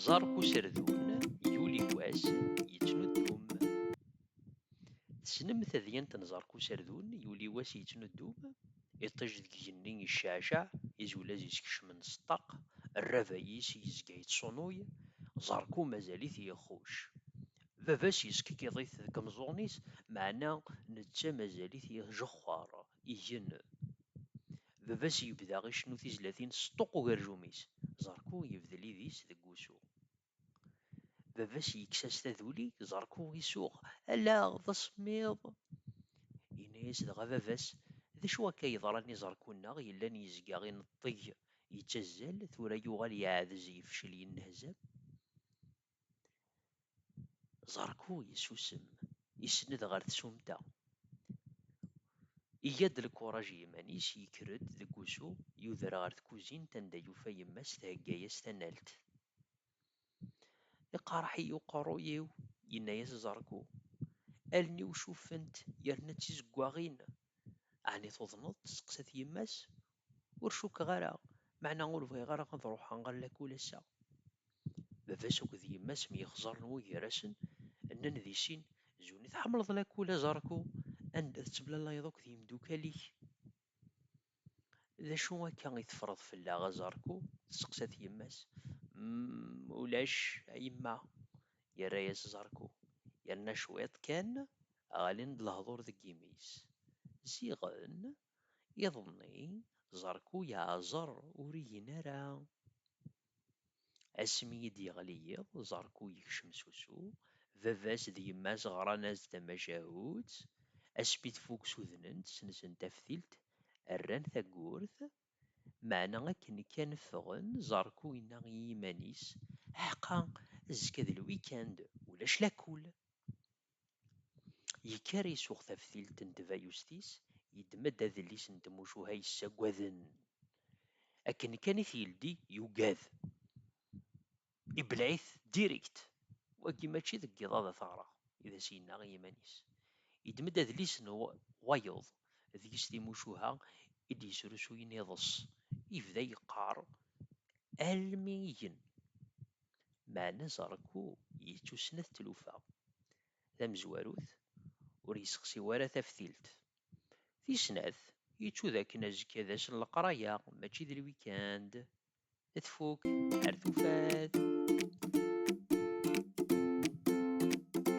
Ẓerq userdun yuli wass yettnuddum. Tessnem tadyant n ẓerq userdun yuli wass yettnuddum? Iṭij deg igenni yecceɛceɛ, izulaz yeskecmen s ṭṭaq, rrabay-is yezga yettsunuy, ẓerku mazal-it yexxuc. Baba-s yeskikkiḍ-it deg imeẓẓuɣen-is, meɛna netta mazal-it yejexxer, igen. Baba-s yebda icennu tizlatin s ṭṭuq ugerjum-is, Ẓerku yebdel idis deg wusu. Baba-s yekkes-as taduli, Ẓerku isuɣ, Allaɣ, d asemmiḍ! Yenna-as dɣa baba-s, D acu akka yeḍran i Ẓerku-nneɣ yellan yezga ineṭṭeg, yettazzal, tura yuɣal yeɛdez, yefcel, yennehzam? Zarku yessusem, isenned ɣer tsumta. Iga-d lkuraj i yiman-is, yekker-d deg wusu, yuder ɣer tkuzint anda yufa yemma-s thegga-as tanalt. Iqerreḥ-iyi uqerruy-iw, yenna-as Zarku. Allen-iw cuffent yerna d tizeggaɣin. Ɛni tuḍneḍ? testeqsa-t yemma-s, ur cukkeɣ ara, meɛna ur bɣiɣ ara ad ruḥeɣ ɣer lakul ass-a. Baba-s akked yemma-s myexzaren wugar-asen, nnan di sin, Zuni tḥemmleḍ lakul a Zarko, anda tettemlalayeḍ akked yimdukal-ik? D acu akka i teffreḍ fell-aɣ a Zarko? testeqsa-t yemma-s. Umm, ulac, a yemma, yerra-yas Zarko, yerna cwiṭ kan ɣlin-d lehdur deg yimi-s. Ziɣen Iḍelli, Zarku yeɛẓer ur igen ara. Asmi i d-yeɣli yiḍ, Zarku yekcem s usu. Baba-s d yemma-s ɣran-as-d tamacahut. Asmi tfuk sudnen-tt, sensen taftilt, rran tawwurt. Meɛna akken kan ffɣen, Zarku yenna i yiman-is, Ḥqa, azekka d lwikand, ulac lakul! Yekker isuɣ taftilt n tbayust-is, yeddem-d adlis n tmucuha yessaggaden. Akken kan i t-yeldi, yugad. Ibleɛ-it direkt. Wagi mačči deg yiḍ ad t-ɣreɣ, i d as-yenna i yiman-is. Yeddem-d adlis n wayeḍ, deg-s timucuha i d-yesrusuyen iḍes. Yebda yeqqar almi igen. meɛna Zarku yettussnet tlufa tamezwarut, ur yessexsi wara taftilt. Tis snat, yettu d akken azekka d ass n leqraya mačči d lwikand, tfuk ar tufat.